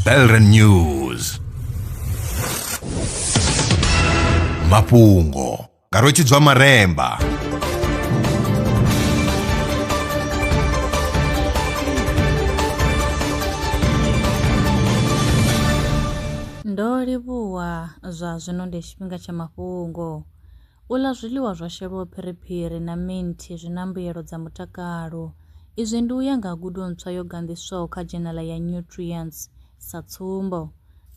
Belren News mafhungo nga rwetshidzwa maremba ndo livhuwa zwa zwino ndi tshifhinga tsha mafhungo U ḽa zwiḽiwa zwo shelwaho phiriphiri na minthi zwi na mbuyelo dza mutakalo. Izwi ndi u ya nga ha gudo ntswa yo ganḓiswaho kha dzhenala ya Nutrients. Sa tsumbo,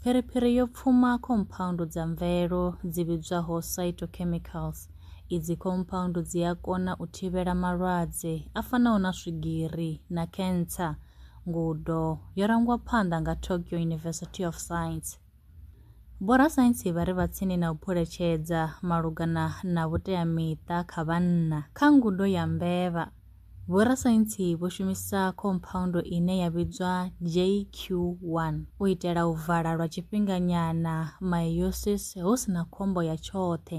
phiriphiri yo pfuma khomphaundu dza mvelo dzi vhidzwaho phytochemicals. Idzi khomphaundu dzi a kona u thivhela malwadze a fanaho na swigiri na khentsa, ngudo yo rangwa phanḓa nga Tokyo University of Science. Vhorasaintsi vha re vha tsini na u phuletshedza malugana na vhuteamiṱa kha vhanna. Kha ngudo ya mbevha, vhorasaintsi vho shumisa khomphaundu ine ya vhidzwa JQ1 u itela u vala lwa tshifhinganyana meiosis hu si na khombo ya tshoṱhe.